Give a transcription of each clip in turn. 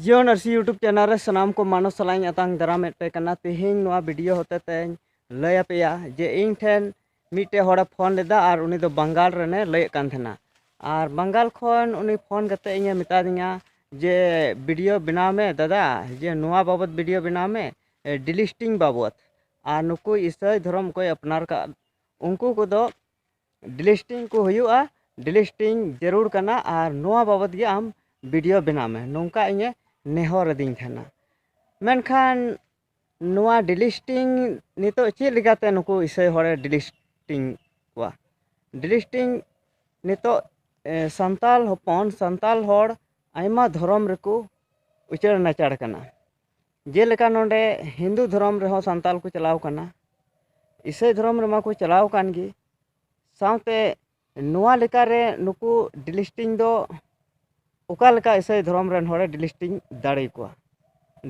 ᱡᱤᱭᱳ ᱱᱟᱨᱥᱤ YouTube channel ᱨᱮ ᱥᱟᱱᱟᱢ ᱠᱚ ᱢᱟᱱᱚ ᱥᱟᱞᱟᱜ ᱤᱧ ᱟᱛᱟᱝ ᱫᱟᱨᱟᱢᱮᱫ ᱯᱮ ᱠᱟᱱᱟ ᱛᱮᱦᱮᱧ ᱱᱚᱣᱟ ᱵᱷᱤᱰᱤᱭᱳ ᱦᱚᱛᱮ ᱛᱮᱧ ᱞᱟᱹᱭ ᱟᱯᱮᱭᱟ ᱡᱮ ᱤᱧ ᱴᱷᱮᱱ ᱢᱤᱫᱴᱮᱡ ᱦᱚᱲᱮ ᱯᱷᱳᱱ ᱞᱮᱫᱟ ᱟᱨ ᱩᱱᱤ ᱫᱚ ᱵᱟᱝᱜᱟᱞ ᱨᱮᱱᱮ ᱞᱟᱹᱭᱮᱫ ᱠᱟᱱ ᱛᱟᱦᱮᱱᱟ ᱟᱨ ᱵᱟᱝᱜᱟᱞ ᱠᱷᱚᱱ ᱩᱱᱤ ᱯᱷᱳᱱ ᱠᱟᱛᱮ ᱤᱧᱮ ᱢᱮᱛᱟᱫᱤᱧᱟ ᱡᱮ ᱵᱷᱤᱰᱤᱭᱳ ᱵᱮᱱᱟᱣ ᱢᱮ ᱫᱟᱫᱟ ᱡᱮ ᱱᱚᱣᱟ ᱵᱟᱵᱚᱫ ᱵᱷᱤᱰᱤᱭᱳ ᱵᱮᱱᱟᱣ ᱢᱮ ᱰᱤᱞᱤᱥᱴᱤᱝ ᱵᱟᱵᱚᱫ ᱟᱨ ᱱᱩᱠᱩ ᱤᱥᱟᱹᱭ ᱫᱷᱚᱨᱚᱢ ᱚᱠᱚᱭ ᱟᱯᱱᱟᱨ ᱠᱟᱜ ᱩᱱᱠᱩ ᱠᱚᱫᱚ ᱰᱤᱞᱤᱥᱴᱤᱝ ᱠᱚ ᱦᱩᱭᱩᱜᱼᱟ ᱰᱤᱞᱤᱥᱴᱤᱝ ᱡᱟᱹᱨᱩᱲ ᱠᱟᱱᱟ ᱟᱨ ᱱᱚᱣᱟ ᱵᱟᱵᱚᱫ ᱜᱮ ᱟᱢ ᱵᱷᱤᱰᱤᱭᱳ ᱵᱮᱱᱟᱣ ᱢᱮ ᱱᱚᱝᱠᱟ ᱤᱧᱮ ᱱᱮᱦᱚᱨ ᱟᱹᱫᱤᱧ ᱛᱟᱦᱮᱱᱟ ᱢᱮᱱᱠᱷᱟᱱ ᱱᱚᱣᱟ ᱰᱤᱞᱤᱥᱴᱤᱝ ᱱᱤᱛᱚᱜ ᱪᱮᱫ ᱞᱮᱠᱟᱛᱮ ᱱᱩᱠᱩ ᱤᱥᱟᱹᱭ ᱦᱚᱲᱮ ᱰᱤᱞᱤᱥᱴᱤᱝ ᱠᱚᱣᱟ ᱰᱤᱞᱤᱥᱴᱤᱝ ᱱᱤᱛᱚᱜ ᱥᱟᱱᱛᱟᱲ ᱦᱚᱯᱚᱱ ᱥᱟᱱᱛᱟᱲ ᱦᱚᱲ ᱟᱭᱢᱟ ᱫᱷᱚᱨᱚᱢ ᱨᱮᱠᱚ ᱩᱪᱟᱹᱲ ᱱᱟᱪᱟᱲ ᱠᱟᱱᱟ ᱡᱮᱞᱮᱠᱟ ᱱᱚᱰᱮ ᱦᱤᱱᱫᱩ ᱫᱷᱚᱨᱚᱢ ᱨᱮᱦᱚᱸ ᱥᱟᱱᱛᱟᱲ ᱠᱚ ᱪᱟᱞᱟᱣ ᱠᱟᱱᱟ ᱤᱥᱟᱹᱭ ᱫᱷᱚᱨᱚᱢ ᱨᱮᱢᱟ ᱠᱚ ᱪᱟᱞᱟᱣ ᱠᱟᱱ ᱜᱮ ᱥᱟᱶᱛᱮ ᱱᱚᱣᱟ ᱞᱮᱠᱟᱨᱮ ᱱᱩᱠᱩ ᱰᱤᱞᱤᱥᱴᱤᱝ ᱫᱚ ᱚᱠᱟ ᱞᱮᱠᱟ ᱤᱥᱟᱹᱭ ᱫᱷᱚᱨᱚᱢ ᱨᱮᱱ ᱦᱚᱲᱮ ᱰᱤᱞᱤᱥᱴᱤᱝ ᱫᱟᱲᱮᱭᱟᱠᱚᱣᱟ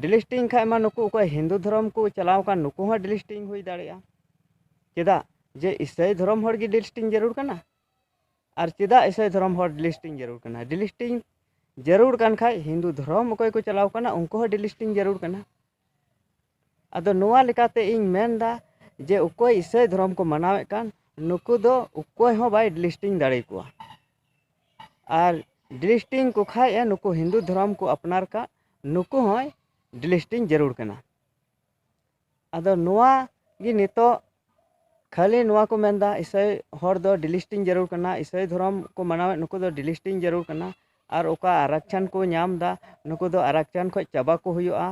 ᱰᱤᱞᱤᱥᱴᱤᱝ ᱠᱷᱟᱱ ᱢᱟ ᱱᱩᱠᱩ ᱚᱠᱚᱭ ᱦᱤᱱᱫᱩ ᱫᱷᱚᱨᱚᱢ ᱠᱚ ᱪᱟᱞᱟᱣ ᱠᱟᱱ ᱱᱩᱠᱩ ᱦᱚᱸ ᱰᱤᱞᱤᱥᱴᱤᱝ ᱦᱩᱭ ᱫᱟᱲᱮᱭᱟᱜᱼᱟ ᱪᱮᱫᱟᱜ ᱡᱮ ᱤᱥᱟᱹᱭ ᱫᱷᱚᱨᱚᱢ ᱦᱚᱲ ᱜᱮ ᱰᱤᱞᱤᱥᱴᱤᱝ ᱡᱟᱹᱨᱩᱲ ᱠᱟᱱᱟ ᱟᱨ ᱪᱮᱫᱟᱜ ᱤᱥᱟᱹᱭ ᱫᱷᱚᱨᱚᱢ ᱦᱚᱲ ᱰᱤᱞᱤᱥᱴᱤᱝ ᱡᱟᱹᱨᱩᱲ ᱠᱟᱱᱟ ᱰᱤᱞᱤᱥᱴᱤᱝ ᱡᱟᱹᱨᱩᱲ ᱠᱟᱱ ᱠᱷᱟᱡ ᱦᱤᱱᱫᱩ ᱫᱷᱚᱨᱚᱢ ᱚᱠᱚᱭ ᱠᱚ ᱪᱟᱞᱟᱣ ᱠᱟᱱᱟ ᱩᱱᱠᱩ ᱦᱚᱸ ᱰᱤᱞᱤᱥᱴᱤᱝ ᱡᱟᱹᱨᱩᱲ ᱠᱟᱱᱟ ᱟᱫᱚ ᱱᱚᱣᱟ ᱞᱮᱠᱟᱛᱮ ᱤᱧ ᱢᱮᱱᱫᱟ ᱡᱮ ᱚᱠᱚᱭ ᱤᱥᱟᱹᱭ ᱫᱷᱚᱨᱚᱢ ᱠᱚ ᱢᱟᱱᱟᱣᱮᱫ ᱠᱟᱱ ᱱᱩᱠᱩ ᱫᱚ ᱚᱠᱚᱭ ᱦᱚᱸ ᱵᱟᱭ ᱰᱤᱞᱤᱥᱴᱤᱝ ᱫᱟᱲᱮ ᱠᱚᱣᱟ ᱟᱨ ᱰᱤᱞᱤᱥᱴᱤᱝ ᱠᱚ ᱠᱷᱟᱡ ᱮ ᱱᱩᱠᱩ ᱦᱤᱱᱫᱩ ᱫᱷᱚᱨᱚᱢ ᱠᱚ ᱟᱯᱱᱟᱨ ᱠᱟᱜ ᱱᱩᱠᱩ ᱦᱚᱸᱭ ᱰᱤᱞᱤᱥᱴᱤᱝ ᱡᱟᱹᱨᱩᱲ ᱠᱟᱱᱟ ᱟᱫᱚ ᱱᱚᱣᱟ ᱜᱮ ᱱᱤᱛᱚᱜ ᱠᱷᱟᱹᱞᱤ ᱱᱚᱣᱟ ᱠᱚ ᱢᱮᱱᱫᱟ ᱤᱥᱟᱹᱭ ᱦᱚᱲ ᱫᱚ ᱰᱤᱞᱤᱥᱴᱤᱝ ᱡᱟᱹᱨᱩᱲ ᱠᱟᱱᱟ ᱤᱥᱟᱹᱭ ᱫᱷᱚᱨᱚᱢ ᱠᱚ ᱢᱟᱱᱟᱣᱮᱫ ᱱᱩᱠᱩ ᱫᱚ ᱰᱤᱞᱤᱥᱴᱤᱝ ᱡᱟᱹᱨᱩᱲ ᱠᱟᱱᱟ ᱟᱨ ᱚᱠᱟ ᱟᱨᱟᱠᱪᱷᱟᱱ ᱠᱚ ᱧᱟᱢᱫᱟ ᱱᱩᱠᱩ ᱫᱚ ᱟᱨᱟᱠᱪᱷᱟᱱ ᱠᱷᱚᱱ ᱪᱟᱵᱟ ᱠᱚ ᱦᱩᱭᱩᱜᱼᱟ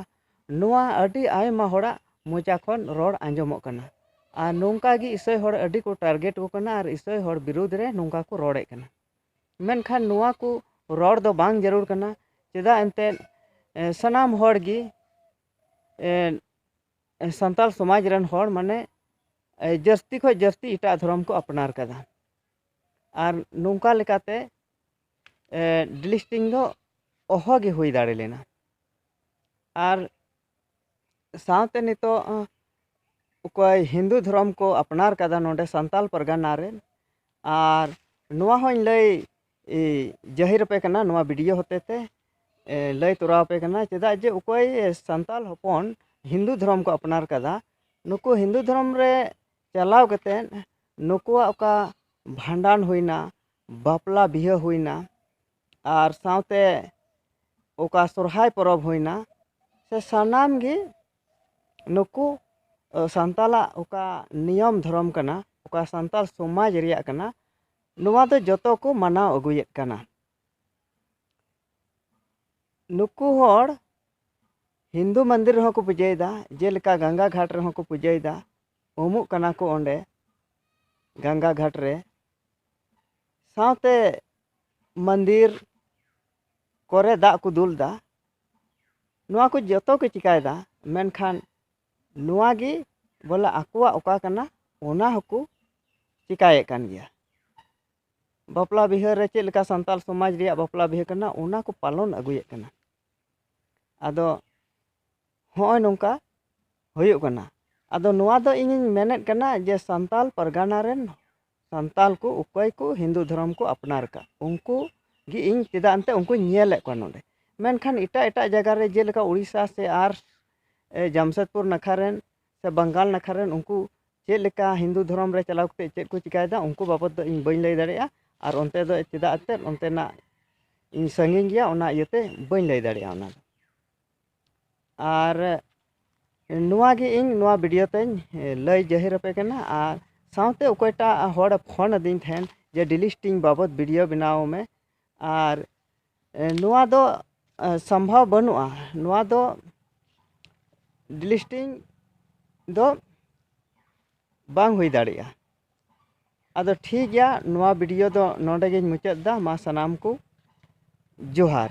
ᱱᱚᱣᱟ ᱟᱹᱰᱤ ᱟᱭᱢᱟ ᱦᱚᱲᱟᱜ ᱢᱚᱪᱟ ᱠᱷᱚᱱ ᱨᱚᱲ ᱟᱸᱡᱚᱢᱚᱜ ᱠᱟᱱᱟ ᱟᱨ ᱱᱚᱝᱠᱟ ᱜᱮ ᱤᱥᱟᱹᱭ ᱦᱚᱲ ᱟᱹᱰᱤ ᱠᱚ ᱴᱟᱨᱜᱮᱴ ᱠᱚ ᱠᱟᱱᱟ ᱟᱨ ᱤᱥᱟᱹᱭ ᱦᱚᱲ ᱵᱤᱨᱩᱫᱽ ᱨᱮ ᱱᱚᱝᱠᱟ ᱠᱚ ᱨᱚᱲᱮᱫ ᱠᱟᱱᱟ ᱢᱮᱱᱠᱷᱟᱱ ᱱᱚᱣᱟ ᱠᱚ ᱨᱚᱲ ᱫᱚ ᱵᱟᱝ ᱡᱟᱹᱨᱩᱲ ᱠᱟᱱᱟ ᱪᱮᱫᱟᱜ ᱮᱱᱛᱮᱫ ᱥᱟᱱᱟᱢ ᱦᱚᱲ ᱜᱮ ᱥᱟᱱᱛᱟᱲ ᱥᱚᱢᱟᱡᱽ ᱨᱮᱱ ᱦᱚᱲ ᱢᱟᱱᱮ ᱡᱟᱹᱥᱛᱤ ᱠᱷᱚᱱ ᱡᱟᱹᱥᱛᱤ ᱮᱴᱟᱜ ᱫᱷᱚᱨᱚᱢ ᱠᱚ ᱟᱯᱱᱟᱨ ᱠᱟᱫᱟ ᱟᱨ ᱱᱚᱝᱠᱟ ᱞᱮᱠᱟᱛᱮ ᱰᱤᱞᱤᱥᱴᱤᱝ ᱫᱚ ᱚᱦᱚᱜᱮ ᱦᱩᱭ ᱫᱟᱲᱮ ᱞᱮᱱᱟ ᱟᱨ ᱥᱟᱶᱛᱮ ᱱᱤᱛᱳᱜ ᱚᱠᱚᱭ ᱦᱤᱱᱫᱩ ᱫᱷᱚᱨᱚᱢ ᱠᱚ ᱟᱯᱱᱟᱨ ᱠᱟᱫᱟ ᱱᱚᱰᱮ ᱥᱟᱱᱛᱟᱲ ᱯᱟᱨᱜᱟᱱᱟ ᱨᱮ ᱟᱨ ᱱᱚᱣᱟ ᱦᱚᱸᱧ ᱞᱟᱹᱭ ᱡᱟᱹᱦᱤᱨ ᱟᱯᱮ ᱠᱟᱱᱟ ᱱᱚᱣᱟ ᱵᱷᱤᱰᱤᱭᱳ ᱦᱚᱛᱮ ᱛᱮ ᱞᱟᱹᱭ ᱛᱚᱨᱟᱣ ᱟᱯᱮ ᱠᱟᱱᱟ ᱪᱮᱫᱟᱜ ᱡᱮ ᱚᱠᱚᱭ ᱥᱟᱱᱛᱟᱲ ᱦᱚᱯᱚᱱ ᱦᱤᱱᱫᱩ ᱫᱷᱚᱨᱚᱢ ᱠᱚ ᱟᱯᱱᱟᱨ ᱟᱠᱟᱫᱟ ᱱᱩᱠᱩ ᱦᱤᱱᱫᱩ ᱫᱷᱚᱨᱚᱢ ᱨᱮ ᱪᱟᱞᱟᱣ ᱠᱟᱛᱮᱫ ᱱᱩᱠᱩᱣᱟᱜ ᱚᱠᱟ ᱵᱷᱟᱸᱰᱟᱱ ᱦᱩᱭᱱᱟ ᱵᱟᱯᱞᱟ ᱵᱤᱦᱟᱹ ᱦᱩᱭᱱᱟ ᱟᱨ ᱥᱟᱶᱛᱮ ᱚᱠᱟ ᱥᱚᱦᱚᱨᱟᱭ ᱯᱚᱨᱚᱵᱽ ᱦᱩᱭᱱᱟ ᱥᱮ ᱥᱟᱱᱟᱢ ᱜᱮ ᱱᱩᱠᱩ ᱥᱟᱱᱛᱟᱲᱟᱜ ᱚᱠᱟ ᱱᱤᱭᱚᱢ ᱫᱷᱚᱨᱚᱢ ᱠᱟᱱᱟ ᱚᱠᱟ ᱥᱟᱱᱛᱟᱲ ᱥᱚᱢᱟᱡᱽ ᱨᱮᱭᱟᱜ ᱠᱟᱱᱟ ᱱᱚᱣᱟ ᱫᱚ ᱡᱚᱛᱚ ᱠᱚ ᱢᱟᱱᱟᱣ ᱟᱹᱜᱩᱭᱮᱫ ᱠᱟᱱᱟ ᱱᱩᱠᱩ ᱦᱚᱲ ᱦᱤᱱᱫᱩ ᱢᱚᱱᱫᱤᱨ ᱨᱮᱦᱚᱸ ᱠᱚ ᱯᱩᱡᱟᱹᱭᱮᱫᱟ ᱡᱮᱞᱮᱠᱟ ᱜᱟᱝᱜᱟ ᱜᱷᱟᱴ ᱨᱮᱦᱚᱸ ᱠᱚ ᱯᱩᱡᱟᱹᱭᱮᱫᱟ ᱩᱢᱩᱜ ᱠᱟᱱᱟ ᱠᱚ ᱚᱸᱰᱮ ᱜᱟᱝᱜᱟ ᱜᱷᱟᱴ ᱨᱮ ᱥᱟᱶᱛᱮ ᱢᱚᱱᱫᱤᱨ ᱠᱚᱨᱮ ᱫᱟᱜ ᱠᱚ ᱫᱩᱞ ᱮᱫᱟ ᱱᱚᱣᱟ ᱠᱚ ᱡᱚᱛᱚ ᱠᱚ ᱪᱤᱠᱟᱹᱭᱮᱫᱟ ᱢᱮᱱᱠᱷᱟᱱ ᱱᱚᱣᱟ ᱜᱮ ᱵᱚᱞᱮ ᱟᱠᱚᱣᱟᱜ ᱚᱠᱟ ᱠᱟᱱᱟ ᱚᱱᱟ ᱦᱚᱸᱠᱚ ᱪᱤᱠᱟᱹᱭᱮᱫ ᱠᱟᱱ ᱜᱮᱭᱟ ᱵᱟᱯᱞᱟ ᱵᱤᱦᱟᱹ ᱨᱮ ᱪᱮᱫ ᱞᱮᱠᱟ ᱥᱟᱱᱛᱟᱲ ᱥᱚᱢᱟᱡᱽ ᱨᱮᱭᱟᱜ ᱵᱟᱯᱞᱟ ᱵᱤᱦᱟᱹ ᱠᱟᱱᱟ ᱚᱱᱟ ᱠᱚ ᱯᱟᱞᱚᱱ ᱟᱹᱜᱩᱭᱮᱫ ᱠᱟᱱᱟ ᱟᱫᱚ ᱦᱚᱸᱜᱼᱚᱭ ᱱᱚᱝᱠᱟ ᱦᱩᱭᱩᱜ ᱠᱟᱱᱟ ᱟᱫᱚ ᱱᱚᱣᱟ ᱫᱚ ᱤᱧᱤᱧ ᱢᱮᱱᱮᱫ ᱠᱟᱱᱟ ᱡᱮ ᱥᱟᱱᱛᱟᱲ ᱯᱟᱨᱜᱟᱱᱟ ᱨᱮᱱ ᱥᱟᱱᱛᱟᱲ ᱠᱚ ᱚᱠᱚᱭ ᱠᱚ ᱦᱤᱱᱫᱩ ᱫᱷᱚᱨᱚᱢ ᱠᱚ ᱟᱯᱱᱟᱨ ᱟᱠᱟᱫ ᱩᱱᱠᱩ ᱜᱮ ᱤᱧ ᱪᱮᱫᱟᱜ ᱮᱱᱛᱮᱫ ᱩᱱᱠᱩᱧ ᱧᱮᱞᱮᱫ ᱠᱚᱣᱟ ᱱᱚᱰᱮ ᱢᱮᱱᱠᱷᱟᱱ ᱮᱴᱟᱜ ᱮᱴᱟᱜ ᱡᱟᱭᱜᱟ ᱨᱮ ᱡᱮᱞᱮᱠᱟ ᱳᱰᱤᱥᱟ ᱥᱮ ᱟᱨ ᱡᱟᱢᱥᱮᱫᱽᱯᱩᱨ ᱱᱟᱠᱷᱟ ᱨᱮᱱ ᱥᱮ ᱵᱟᱝᱜᱟᱞ ᱱᱟᱠᱷᱟ ᱨᱮᱱ ᱩᱱᱠᱩ ᱪᱮᱫ ᱞᱮᱠᱟ ᱦᱤᱱᱫᱩ ᱫᱷᱚᱨᱚᱢ ᱨᱮ ᱪᱟᱞᱟᱣ ᱠᱟᱛᱮᱫ ᱪᱮᱫ ᱠᱚ ᱪᱤᱠᱟᱹᱭᱮᱫᱟ ᱩᱱᱠᱩ ᱵᱟᱵᱚᱫ ᱫᱚ ᱤᱧ ᱵᱟᱹᱧ ᱞᱟᱹᱭ ᱫᱟᱲᱮᱭᱟᱜᱼᱟ ᱟᱨ ᱚᱱᱛᱮ ᱫᱚ ᱪᱮᱫᱟᱜ ᱮᱱᱛᱮᱫ ᱚᱱᱛᱮᱱᱟᱜ ᱤᱧ ᱥᱟᱺᱜᱤᱧ ᱜᱮᱭᱟ ᱚᱱᱟ ᱤᱭᱟᱹᱛᱮ ᱵᱟᱹᱧ ᱞᱟᱹᱭ ᱫᱟᱲᱮᱭᱟᱜᱼᱟ ᱚᱱᱟ ᱫᱚ ᱟᱨ ᱱᱚᱣᱟ ᱜᱮ ᱤᱧ ᱱᱚᱣᱟ ᱵᱷᱤᱰᱤᱭᱳ ᱛᱮᱧ ᱞᱟᱹᱭ ᱡᱟᱹᱦᱤᱨ ᱟᱯᱮ ᱠᱟᱱᱟ ᱟᱨ ᱥᱟᱶᱛᱮ ᱚᱠᱚᱭᱴᱟᱜ ᱦᱚᱲ ᱯᱷᱳᱱ ᱟᱹᱫᱤᱧ ᱛᱟᱦᱮᱱ ᱡᱮ ᱰᱤᱞᱤᱥᱴᱤᱝ ᱵᱟᱵᱚᱫ ᱵᱷᱤᱰᱤᱭᱳ ᱵᱮᱱᱟᱣ ᱢᱮ ᱟᱨ ᱱᱚᱣᱟ ᱫᱚ ᱥᱚᱢᱵᱷᱚᱵ ᱵᱟᱹᱱᱩᱜᱼᱟ ᱱᱚᱣᱟ ᱫᱚ ᱰᱤᱞᱤᱥᱴᱤᱝ ᱫᱚ ᱵᱟᱝ ᱦᱩᱭ ᱫᱟᱲᱮᱭᱟᱜᱼᱟ ᱟᱫᱚ ᱴᱷᱤᱠ ᱜᱮᱭᱟ ᱱᱚᱣᱟ ᱵᱷᱤᱰᱤᱭᱳ ᱫᱚ ᱱᱚᱰᱮ ᱜᱤᱧ ᱢᱩᱪᱟᱹᱫ ᱮᱫᱟ ᱢᱟ ᱥᱟᱱᱟᱢ ᱠᱚ ᱡᱚᱦᱟᱨ